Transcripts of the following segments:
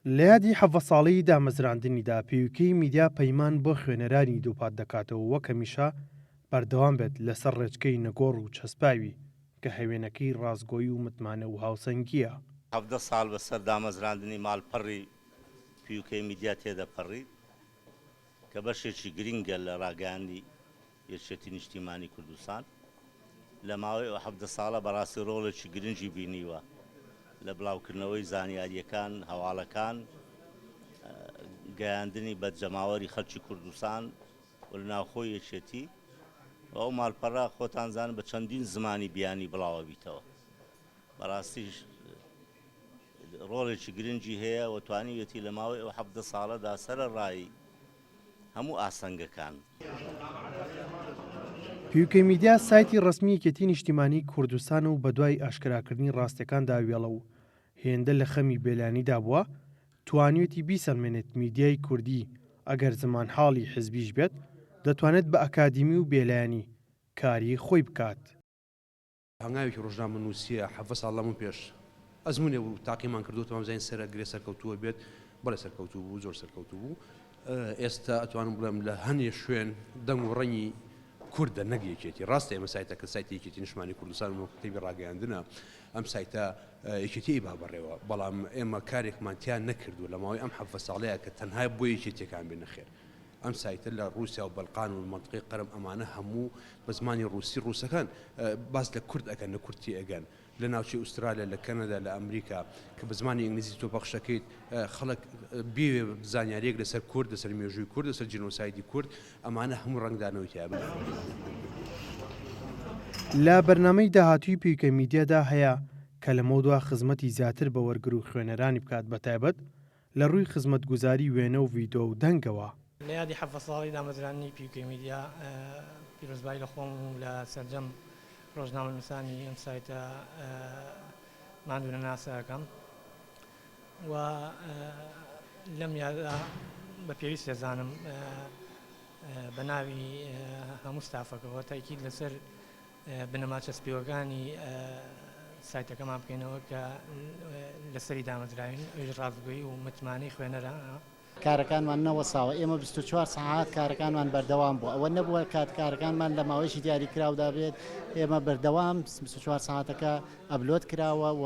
لە یادی حەڤە ساڵەی دامەزراندنیدا پیوکەی میدیا پەیمان بۆ خوێنەرانی دووپات دەکاتەوە وەک هەمیشە بەردەوام بێت لەسەر ڕێچکەی نەگۆڕ و چەسپاوی کە هەوێنەکەی ڕاستگۆی و متمانە و هاوسەنگییە. حەڤدە ساڵ بە سەر دامەزراندنی ماڵپەڕی پیوکەی میدیا تێدەپەڕی کە بەشێکی گرینگە لە ڕاگەیاندنی یەکێتی نیشتیمانی کوردستان لە ماوەی ئەو حەڤدە ساڵە بەڕاستی ڕۆڵێکی گرنگی بینیوە لە بڵاوکردنەوەی زانیارییەکان، هەواڵەکان، گەیاندنی بە جەماوەری خەڵکی کوردستان و لە ناوخۆی یەکێتی و ئەو ماڵپەڕە خۆتانزانن بە چەندین زمانی بیانی بڵاوەبیتەوە بەڕاستیش ڕۆڵێکی گرنگی هەیە و توانیویەتی لە ماوەی ئەو حەڤدە ساڵەدا سەرەڕای هەموو ئاستەنگەکان. پیوکەی میدیا، سایتی ڕەسمی یەکێتی نیشتیمانی کوردستان و بەدوای ئاشکراکردنی ڕاستیەکاندا وێڵە و هێندە لە خەمی بێلانیدا بووە توانیوێتی بیسەلمێنێت میدیای کوردی ئەگەر زمانحاڵی حزبیش بێت دەتوانێت بە ئەکادیمی و بێلایەنی کاری خۆی بکات. هەنگاوێکی ڕۆژنامەنووسییە، حەڤە ساڵ لەمەو پێش ئەزموونێ بوو تاقیمان کردۆتەوە وامزانی سەرە گرێ سەرکەوتووە بێت، بەڵێ سەرکەوتوو بوو زۆر سەرکەوتوو بوو، ئێستا ئەتوانم بڵێم لە هەنێ شوێن دەنگ و ڕەنگی کوردە نەک یەکێتی، ڕاستە ئێمە سایتەکە سایتی یەکێتی نیشتمانی کوردستان و مەکتەبی ڕاگەیاندنە ئەم سایتە یەکێتی ئەیبا بەڕێوە، بەڵام ئێمە کارێکمان تیا نەکردووە لە ماوەی ئەم حەڤە ساڵەیە کە تەنها بۆ یەکێتیەکان بێ نەخێر. ئەم سایتە لە ڕوسیا و بەلقان و مەنتقەی قەرم ئەمانە هەموو بە زمانی ڕوسی ڕوسەکان باس لە کورد ئەکەن لە کورد تێئەگەن لە ناوچەی ئوسترالیا لە کەنەدا لە ئەمریکا کە بە زمانی ئینگلیزی تۆ پەخشەکەیت خەڵک بێوێ زانیاریەک لەسەر کورد لەسەر مێژووی کورد لەسەر جینۆسایدی کورد ئەمانە هەموو ڕەنگدانەوەی تیابن لە بەرنامەی داهاتووی پیوکە میدیادا هەیە کە لەمەودوا خزمەتی زیاتر بە وەرگر و خوێنەرانی بکات بەتایبەت لە ڕووی خزمەتگوزاری وێنە و ڤیدۆ و دەنگەوە. لە یادی حەڤدە ساڵەی دامەزراندنی پیوکەی میدیا پیرۆزبایی لە خۆم و لە سەرجەم ڕۆژنامەنووسانی ئەم سایتە ماندوونەناسە ئەکەم و لەم یادە بە پێویست دەزانم بە ناوی هەموو ستافەکەوە تاکید لەسەر بنەما چەسپیوەکانی سایتەکەمان بکەینەوە کە لەسەری دامەزراوین ئەویش ڕاستگۆیی و متمانەی خوێنەرە. کارەکانمان نەوەستاوە، ئێمە بیست و چوار سەعات کارەکانمان بەردەوام بوو، ئەوە نەبووە کات کارەکانمان لە ماوەیەکی دیاریکراودا بێت، ئێمە بەردەوام بیست و چوار سەعاتەکە ئەپلۆد کراوە و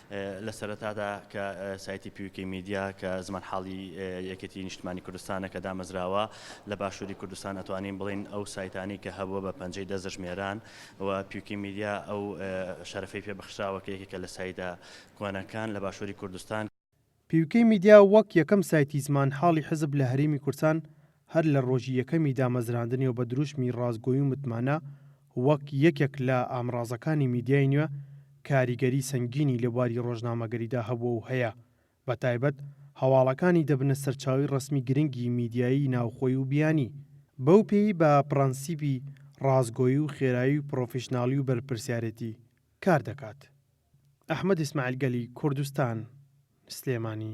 لە سەرەتادا کە سایتی پیوکەی میدیا کە زمانحاڵی یەکێتی نیشتمانی کوردستانە کە دامەزراوە لە باشووری کوردستان ئەتوانین بڵێین ئەو سایتانەی کە هەبووە بە پەنجەی دەست دەژمێران و پیوکی میدیا ئەو شەرەفەی پێ بەخشراوە کە یەکێکە لە سایتە کۆنەکان لە باشووری کوردستان پیوکەی میدیا وەک یەکەم سایتی زمانحاڵی حزب لە هەرێمی کوردسان هەر لە رۆژی یەکەمی دامەزراندنیەوە بە دروشمی راستگۆی و متمانە وەک یەکێک لە ئامرازەکانی میدیای نوێ کاریگەری سەنگینی لە بواری رۆژنامەگەریدا هەبووە و هەیە بە تایبەت هەواڵەکانی دەبنە سەرچاوەی رەسمی گرنگی میدیایی ناوخۆی و بیانی بەو پێی بە پڕەنسیپی راستگۆی و خێرایی و پڕۆفیشناڵی و بەرپرسیارێتی کار دەکات. ئەحمەد ئیسماعیل گەلی کوردستان، سلێمانی.